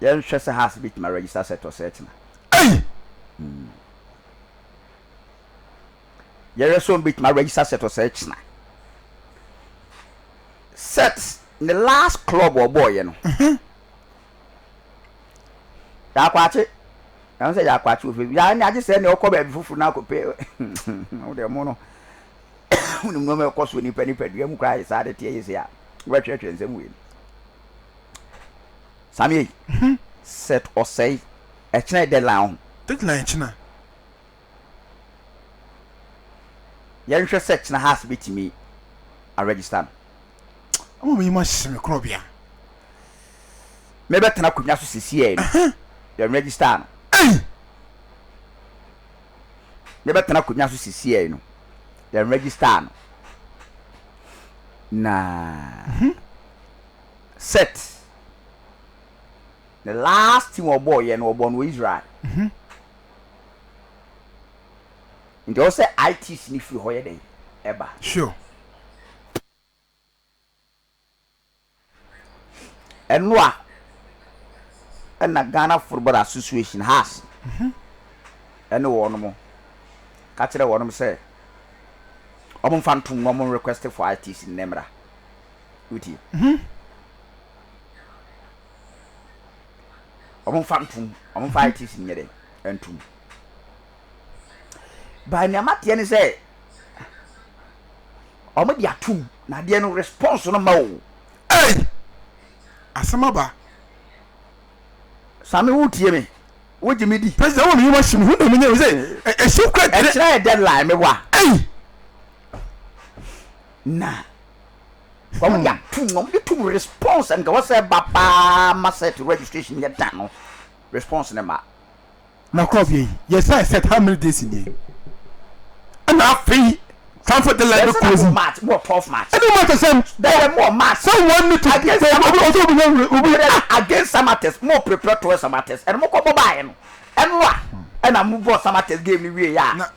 Yɛnhwɛ sɛ Haas betumi aregister sɛ Tɔsɛɛkyena. Ei! Yɛhwɛ sɛ wɔbetumi aregister sɛ Tɔsɛɛkyena. Sɛt ne last club a ɔbɔɔeɛ no. Yaakwakye. Ɛho sɛ Yaakwakye wɔ Facebook. Yaa ne agye sɛ ne ɔkɔ baabi foforo na akɔpɛ wo deɛ mo no. Wonim nneɛma ɛkɔ so nipa nipadua mu koraa yɛ saa de teɛ yɛ sei a wobɛtwerɛtwerɛ nsɛm wei no. Sammy ei hmm set ɔsɛe ɛkyena yɛ deadline ɔho. Deadline ɛkyena. Yɛnhwɛ sɛ kyena Haas bɛtumi a register no. Ama m'anim ahyehye me korɔbea. Mebɛtena akonnwa so sesiei no yɛn register no. Ei! Mebɛtena akonnwa so sesiei no yɛn register no na. Set ne last team ɔbɔɔ yɛ no ɔbɔɔ no wɔ Israel nti ɔwɔ sɛ ITs no firi hɔ yɛ dɛn ɛba. Sure. Ɛno a ɛna Ghana Football Association has ɛne wɔn mo ka kyerɛ wɔn sɛ wɔn mfa ntom na wɔn request for ITs no na ɛmmra. Wotie? Mhm. Wɔmfa ntom, wɔmfa ITC nyɛ dɛ ntom. But nea mateɛ ne sɛ wɔde atom na adeɛ no response no ma o. Ei! Asɛm aba. Same wotie me? Wogye me di? President wɔ me yoma hye mu, hu na menyɛ wo sɛ ɛhyew kura dwene. Ɛkyerɛ yɛ deadline me wa. Ei! Na Wɔde ato mu, wɔde to mu response a nka ɛwɔ sɛ ɛba paa ma set registration yɛ da no, response no mma. Na kɔ afei yɛsan set how many days nie? Ɛna afei Frankfurt the line bɛ close. Ɛsɛ na March mu wɔ 12 March. Ɛna March asɛm. Dɛdɛ mu wɔ March. Sɛ wɔn ni to. Against Samates. Obi obi obi obi. Against Samates mo prepare to Samates ɛna mo kɔ bɔ baayɛ no ɛno a ɛna mo bɔ Samates game ni wie yɛ a.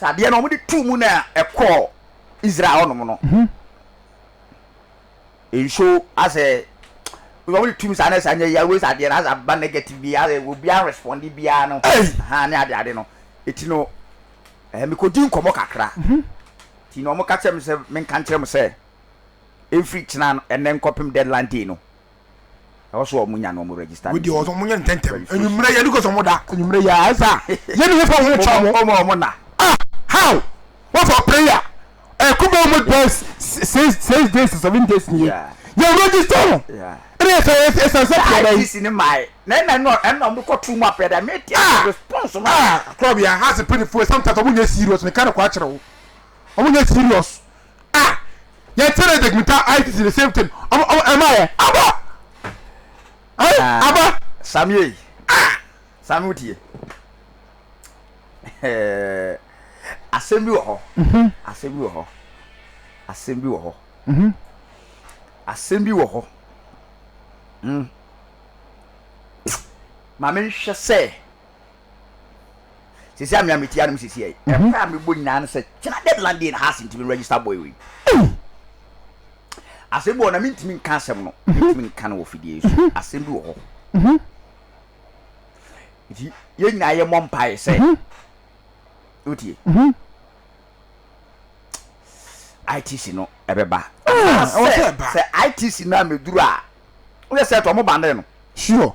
Sɛ adeɛ no wɔde too mu na ɛkɔɔ Israel hɔ nom no, nso asɛ wɔde tum saa na saa nyɛ yɛ wei adeɛ no asɛ aba negative bi asɛ obi an respond biara no ha ne ade ade no eti no ɛɛ mekɔdi nkɔmɔ kakra ti na wɔn ka kyerɛ me sɛ menka nkyerɛ mo sɛ ɛmfiri kyena ɛnɛ nkɔpem deadline day no. Ɛwɔ sɛ wɔn nya na wɔn register. Wei deɛ wɔn wɔn nyɛ ntɛntɛm. Enyimire yɛ because wɔn da. Enyimire yɛ ayɛ sɛ yɛ ne hefa wɔn kyɛn wɔn. Wɔn wɔn na. Ah how wɔn fɔ prayer ɛɛ kuba wɔn bɛ six six days to seven days ni yɛ yɛ register no ɛna yɛ sɛ yɛ sɛ sɛ pɛrɛ yi. IGC ni maa yɛ na ɛna ɛna ɛna wɔn kɔ tu mu apɛ dɛ mɛ ti yɛ response wɔn. Ah kɔrɔ bi a ha se pini fo sometimes wɔn nyɛ serious mi ka ne kɔ akyerɛ wo wɔn nyɛ serious Ah yɛ tere de gmita ICC the same thing ɔmo ɔmo ɛma yɛ aba. Ɛɛ ah, aba. Samie ah sami wotie. Asɛm bi wɔ hɔ. Mhm. Asɛm bi wɔ hɔ. Asɛm bi wɔ hɔ. Mhm. Asɛm bi wɔ hɔ. Mm. Ma menhwɛ sɛ sisi a me a me tia no sisi yɛ ɛkɔ a mebɔ nyinaa no sɛ kyena deadline deɛ na ha ase ntumi register boy wei asɛm bi wɔ na mentumi nka asɛm no mentumi nka no wɔ fidie so asɛm bi wɔ hɔ nti yɛn nyinaa yɛmmɔ mpaeɛ sɛ wotie itc no ɛbɛba sɛ itc no a mɛduru a woyɛ sɛ tɔ mo bande no sure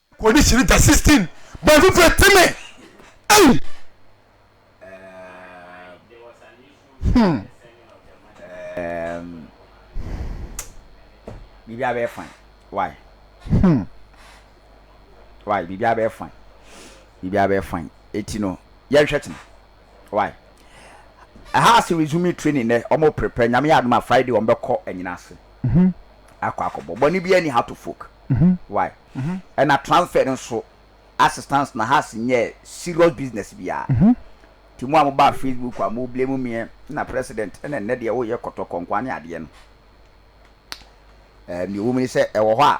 Kɔ di kyiri da sixteen bɛn fufu etimi ei hmm. Bibi abɛ fine why hmm why bibi abɛ fine bibi abɛ fine eti no yɛhwɛ tena. why ɛha ase resuming training nɛ ɔmo prepare nyame yɛ adom a Friday ɔmo bɛkɔ anyina ase akɔ akɔ bɔ bɔne biaa ni ha to folk why ɛna transfer no nso assistance na ha se nyɛɛ serious business biaa nti mo a mo baa Facebook a mo blame meɛ na president ɛna nnɛ deɛ wo yɛ kɔtɔkɔ nkoa ne adeɛ no ɛɛ neɛ ɛwɔ mu ne sɛ ɛwɔ hɔ a.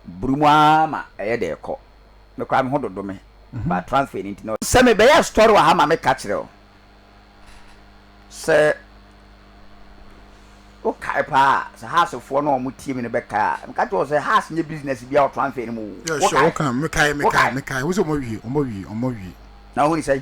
buru mu ara ma ɛyɛ dɛ kɔ. Me koraa me ho dodo me but transfer no nti na. Sɛ me bɛyɛ story wɔ ha ma me ka kyerɛ wo sɛ wo kae paa a sɛ house foɔ no a ɔmo tie me no bɛ kae a me ka kyerɛ wo sɛ house nyɛ business biara wɔ transfer no mu o wo kae? Wo kae? Me kae me kae me kae wo sɛ ɔmo awie ɔmo awie ɔmo awie. Na wo ho ne sɛn?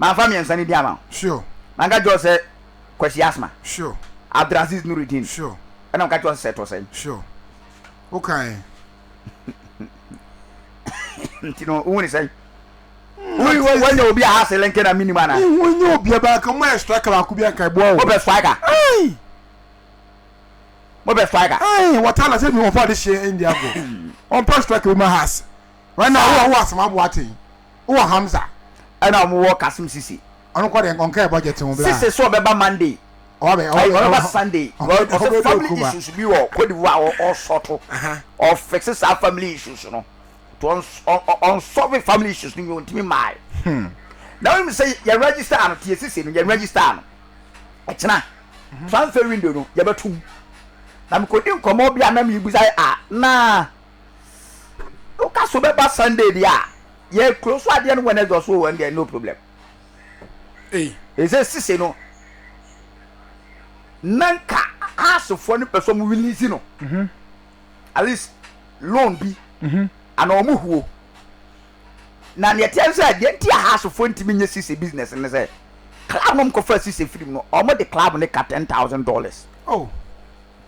Manfa mmiɛnsa no din ama wo. Sure. Manka kyerɛ wo sɛ Kwasi Asma. Sure. Abdulaziz Nurudeen. Sure. Ɛna meka kyerɛ wo sɛ sɛ ɛtɔ sɛn. Sure. Wokae. Nti no wohu ne sɛn? Wohu wanya obi a hase lɛnkɛ na menim anaa? Wohu wanya obi a baa ka mo ayɛ striker baako bi anka ɛboa wo. Mopɛ striker. Ayi. Mopɛ striker. Ayi wɔtala sɛ bi wɔn fa de hyɛ India go. Wɔn pɛ striker bi ma hase. Wɛn na wo a wo asɛm aboa ten. Wowɔ Hamza ɛna ɔmo wɔ Kasim Sise. Ɔno kɔ deɛ ɔnkaɛ budget ho bla. Sise sɛ ɔbɛba Monday ai ɔbɛba Sunday because ɔsɛ family issues bi wɔ Cote d'Ivoire a ɔsɔto ɔ fixe saa family issues no to ɔnsɔve family issues no wie ɔntumi mmae na wonim sɛ yɛ register no tie Sise no yɛ register no ɛkyena transfer window no yɛbɛto mu na mekɔdi nkɔmmɔ bi a na mebusae a na woka so bɛba sunday deɛ a yɛ kuro so adeɛ no wednesday ɔso wɔn deɛ no problem ɛsɛ sise no na nka haasefoɔ no pɛ so ɔmo release no mhm. at least loan bi mhm. ana ɔmo huo na nea ɛteɛ sɛ deɛ nti a haasefoɔ ntumi nye sise business no sɛ club no mkɔfa sise firim no ɔmo de club no ka ten thousand dollars oh.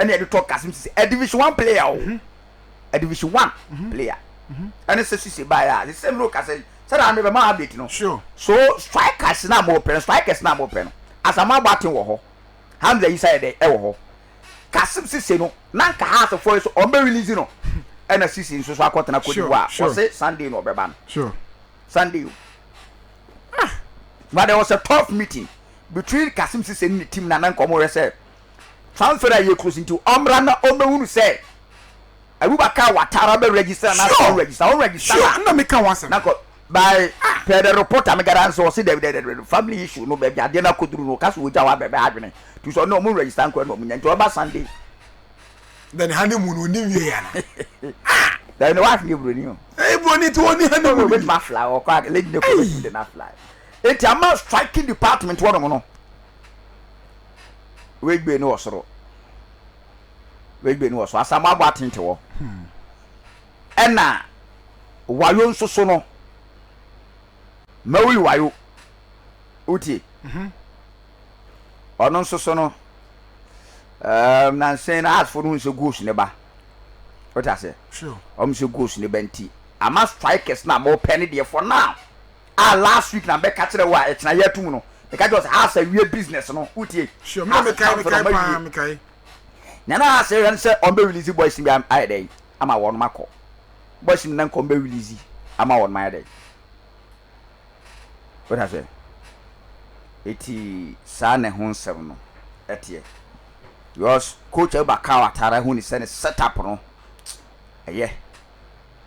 ɛna yɛde tɔ kasim sise ɛ division one player o mhm. ɛ division one mhm. player mhm. ɛne sɛ sise baayɛ a sise mi no kasa yi sɛ na mi bɛ ma update no so strikers na mo pɛ no strikers na mo pɛ no asama abɔ aten wɔ hɔ hamza yi sa yɛ dɛ ɛwɔ hɔ kasim sise no na nka ha asefo yi so ɔn bɛ release no ɛna sise nso so akɔtena kodi wa wɔsi sunday na ɔbɛba no sunday o ah but there was a tough meeting between kasim sise ne ne team na na nkɔmɔ yɛ sɛ. transfer a ɛyɛ kuro so nti ɔmmra na ɔmmɛhunu sɛ Aruba car watara bɛ register na sɛ ɔnregister ɔnregister na na meka ho asɛm na kɔ by per the report a megara nso ɔse dɛbi dɛbi dɛbi family issue no baabi adeɛ no akɔduru no ɔka sɛ ɔgya hɔ abɛbɛ adwene tu sɛ ɔne ɔmo register nkora na ɔmo nya nti ɔba Sunday na ne honeymoon no ɔni wie ya dɛbi ne wife ne buroni o ɛyɛ buroni nti ɔni honeymoon no ɔbɛtumi afla ɔkɔ a lady ne kɔ bɛtumi de no afla eti ama striking department wɔnom no wegbe no wɔ soro wegbe no wɔ so asamu abɔ atente wɔ ɛna wayo nso so no mawuli wayo wotie mhm. ɔno nso so no um, nansen na asfo no nsɛ goals ne ba wote aseɛ ɔm sɛ goals ne ba nti ama strikers na mopɛ ne deɛ for now a last week na mɛka kyerɛ wo a ɛkyena yɛ atum no meka kyerɛ wo sɛ Haas awie business no wotie Sure me na Haas mekae transfer no mekae ɔmo paa awie mekae. Nea na Haas rehwɛ no sɛ ɔmo bɛ release boys no bi am- ayɛ dɛn ama wɔnom akɔ boys no na nka ɔmo bɛ release ama wɔnom ayɛ dɛn wote aseɛ eti saa na ɛho nsɛm no ɛteɛ because coach Abubakar Watara hu ne sɛ ne set up no ɛyɛ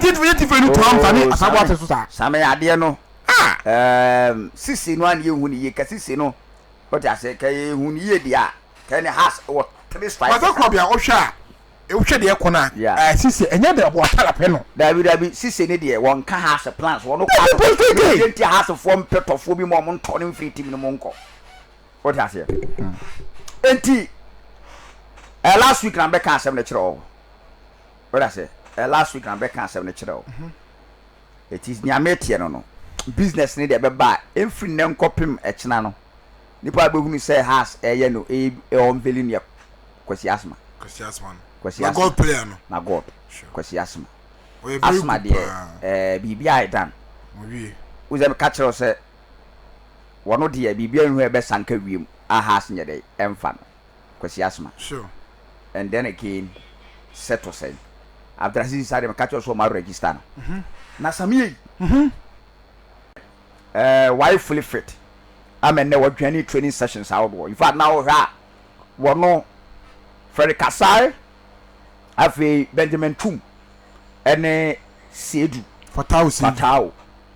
Gyidifo yɛ gyidifo no toa mfa ne asabow ase so saa. Same adeɛ no ehm sisi no a na yɛhu no yie kɛ sisi no wote aseɛ kɛ yɛhu no yie deɛ a kɛ ne has wɔ three strikes sa. Maame Korɔbea wohwɛ a wohwɛ deɛ ɛkɔ no a sisi ɛnyɛ deɛ ɔbɔ atar apɛ no. Dabi dabi sisi no deɛ wɔn ka has plans wɔn ka no ne deɛ nti a has foɔ mpɛ tɔfoɔ bi ma wɔn ntɔ no mfiri team no mu nkɔ wote aseɛ nti eh last week na me bɛka asɛm no kyerɛ wo. Woda se eh last week na me bɛka asem no kyerɛ wo eti nea meteɛ no no business no deɛ ɛbɛba a ɛmfiri nnɛ nkɔpem ɛkyena no nipa bɛhunu sɛ has ɛyɛ no ɛyɛ unveiling yɛ Kwasi Asma Kwasi Asma no Kwasi Asma na God player no na God Kwasi Asma Asma deɛ eh biribi a ɛdan wo sɛ meka kyerɛ wo sɛ wɔno deɛ biribi a ɛnhu ɛbɛsa nka wiem a has nyɛ dɛ ɛmfa no. Kwasi Asma. Sure. And then again sɛ to sɛn Abdulaziz saa deɛ meka kyerɛ wo sɛ ɔma register no na Samie yi ɛɛ wayɛ fully fit ama nnɛ wɔdwane training sessions ahodoɔ in fact na wohwɛ a wɔno Freddy Kasae afei Benjamin Tum ɛne Seidu Fatao Seidu. Fatao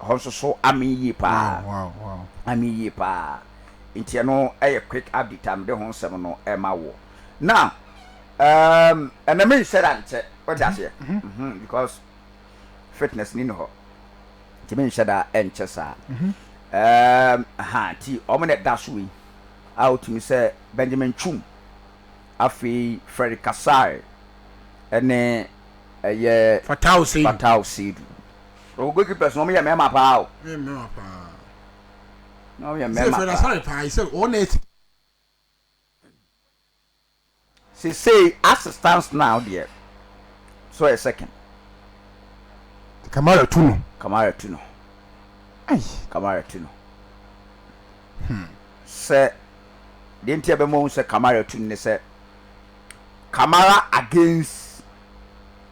Ɛhɔ nso so amee yie paa. Amee yie paa. Nti ɛno yɛ quick update a mede ho nsɛm no rema woɔ. Now, um, ɛnna menhyɛ da nkyɛ. Wote aseɛ? Mhm, because fitness ni ne hɔ. Nti menhyɛ da nkyɛ saa. Um, ha, nti wɔn na ɛda so wei. A wotumi sɛ Benjamin Chum, afei Freddy Kasai, ɛne ɛyɛ Fatau Seidu. Fatau Seidu. Ɔwɔ goal keepers no wɔn yɛ mɛɛma paa o. Wɔn yɛ mɛɛma paa. Na wɔn yɛ mɛɛma paa. Sɛ Fred Asare paa yi sɛ wɔn na ɛsi. Sesei as it stands now deɛ so ɔyɛ second. Kamara tu no. Kamara tu no. Ai. Kamara tu no. Hmm. Sɛ deɛ nti a bɛma wɔn sɛ Kamara tu no ne sɛ Kamara against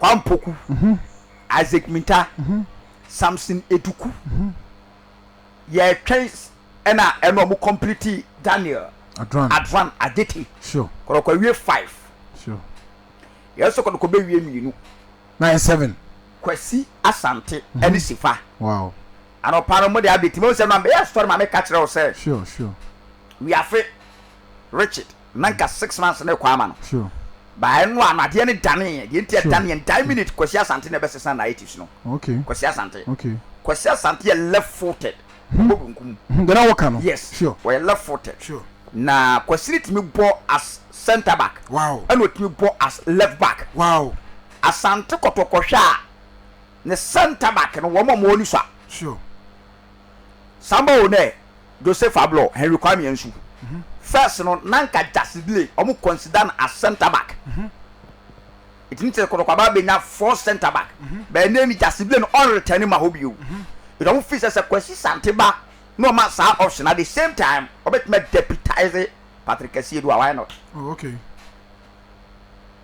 Kwame Poku, Isaac Minta, Samson Eduku yɛtwɛn ɛna ɛna ɔmo complete Daniel Adran Adete kɔdɔkɔ awie five yɛ so kɔdɔkɔ bɛ wie mmienu nine seven Kwasi Asante ɛne Sifa anɔpa no mo de update mo sɛ no ameyɛ asɔre maame ka kyerɛ wo sɛ wiafe Richard. Na nka six months ne rekɔ ama no. Ba ɛno a no adeɛ no daneeɛ. Deɛ nti a ɛdaneeɛ no, die minute Kwasi Asante na ɛbɛsesa narratives no. Kwasi Asante. Kwasi Asante yɛ left footed. Ɔbɔ benkum. Deɛ na woka no. Yes. Ɔyɛ left footed. Na Kwasi no tumi bɔ as centre back. Ɛna ɔtumi bɔ as left back. Asante kɔtɔ kɔhwɛ a, Ne centre back no wɔn a wɔwɔ ne sua. Sure. Samba o ne Jose Fablo, Henry Kwame Ansu. First no na nka Jasidie wɔn consider no as centre back. Ɛtumi te sɛ Kotoko aba abɛnya four centre back. But ɛnɛ ni Jasidie no ɔn return ma hɔ bio. Nti wɔn feel sɛ sɛ Kwasi Sante ba na wɔma saa option at the same time wɔbɛtumi a deputize Patrick Asiedu a why not. Oh okay.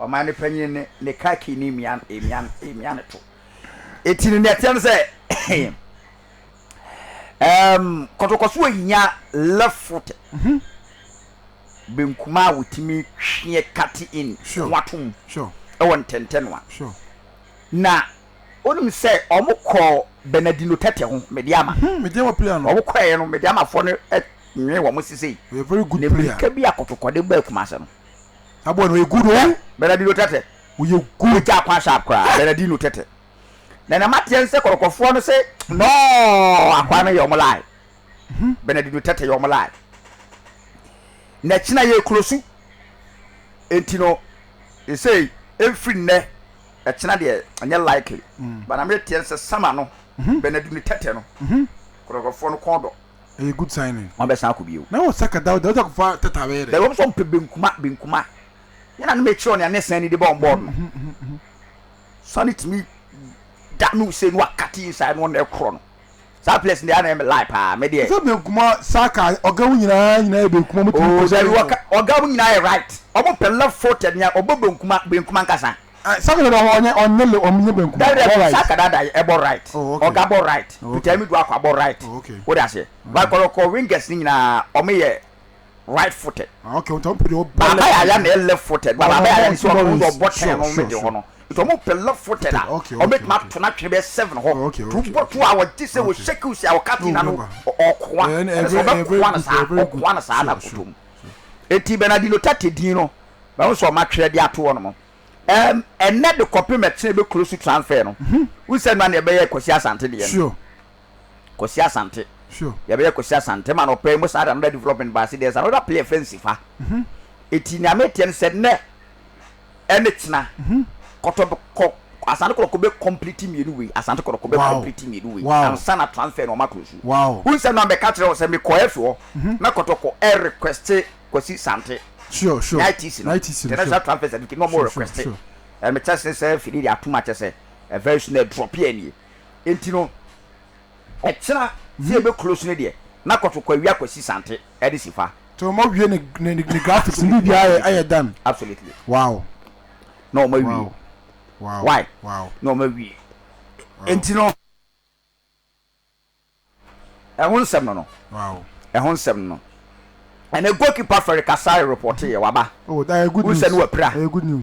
ɔman no panyin ne ne kaki ne mmian mmian mmian no to. Eti no nea ɛteɛ no sɛ ɛɛm kɔtɔkɔso a ehia left foot mhm. benkum a wotumi twe cut in sure. ho ato mu sure. ɛwɔ ntɛntɛnoa. Sure. Na onim sɛ wɔn kɔ Bernardino tɛtɛ ho mede ama. Hmm, mede ama player no. Wɔn kɔ ɛyɛ no mede ama fɔ no nwe wɔn sise. Ɔyɛ very good player. Ne mirika bi akɔtɔkɔde baa Kumase no. aboa no ɔyɛ good oo. Bernadino Tete. Ɔyɛ good. Ɔyɛ gyaa kwan sharp koraa Bernadino Tete. Na na mateɛ nsɛ kɔrɔkɔfoɔ no se nɔɔ akwaa no yɛ ɔmo lie. Bernadino Tete yɛ ɔmo lie. Na kyena yɛ closu. Enti no sesei ɛmfiri nnɛ ɛkyena deɛ ɛnyɛ likely. But na meteɛ nsɛ summer no Bernadino Tete no kɔrɔkɔfoɔ no kɔn dɔ. ɛyɛ good sign ni. Wɔn abɛsan akɔ bio. Na wɔ saka Dawda wode akɔ fa tɛtɛ abɛyɛ dɛ. Bɛ wɔn sɛ wɔn pɛ benkuma benkuma yɛ na ne me kyerɛ wɔn nea ne sɛn ni de bɔ wɔn bɔɔl no sani tumi da no se no wa kate inside no wɔn ɛkorɔ no saa players deɛ ana ɛmɛ lie paa me deɛ. Sɛ benkuma saka ɔga wo nyinaa nyinaa yɛ benkuma wɔn tumi kɔ sɛ. Oh dabi ɔga wɔn nyinaa yɛ right wɔn pɛ left footed nea ɔbɔ benkuma benkuma nkasa. Eh saka dada hɔ ɔnyɛ ɔnyɛ le ɔmo nyɛ benkum Dabi dabi saka dada yɛ ɛbɔ right ɔga bɔ right peter amidu akɔ abɔ right wo de aseɛ but kɔrɔkɔ wingers ne nyinaa ɔmo yɛ right footed baaba yɛ aya na yɛ left footed ba baaba yɛ aya ne sɛ ɔmo de ɔbɔ ten no ɔmo de hɔ no nti ɔmo pɛ left footed a ɔmo betumi ato no atwene bɛyɛ seven hɔ tu bɔ tu a ɔgye sɛ wɔ shake o si a ɔka ti na no ɔkoa ɛna sɛ ɔbɛkoa no saa ɔkoa no saa na koto mu eti bernardino tate din no Mahu sɛ wɔatwerɛ de ato hɔnom ɛɛm ɛnnɛ de kɔpem ɛtena ɛbɛkuro so transfer no. Wohu sɛ ɛno ara na yɛbɛyɛ Kwasi Asante deɛ no. Kwasi Asante. Yɛbɛyɛ Kwasi Asante ma no ɔpɛ mu saa de another development ba ase. There's another play yɛfrɛ no Sifa. Ɛti nea meteɛ no sɛ nnɛ ɛne kyena kɔtɔ bɛ kɔ Asante Kɔtɔkɔ bɛ complete mmienu wei Asante Kɔtɔkɔ bɛ complete mmienu wei ansa na transfer no wɔakuro so. Wohu sɛ ɛno ara mebɛka kyerɛ wo sɛ mekɔɔ FA hɔ na Kɔtɔkɔ ɛrequeste Kwasi Sante, Sure sure Nineties no Nineties no sure International Transfer Certificate na wɔn Sure sure request sure And me test ne sɛ fidie de atom akyɛ sɛ eh, very soon ɛdrɔpe a nie Enti no ɛkyena sɛ yɛbɛ close no deɛ na kɔto kɔ awia Kwasi Sante ɛde si fa Nti wɔn awie ne ne ne ne graphics ne biribiara ayɛ Absolutely ayɛ done Absolutely Wow Na wɔn awie wow wow Why wow Na wɔn awie wow. Enti no. Ɛho nsɛm no no. Wow. Ɛho nsɛm no. Ɛnɛ goalkeeper Ferry Kasai reporte yɛ waba. Oh, that is good news. Wusɛ no wapira. Ɛyɛ good news.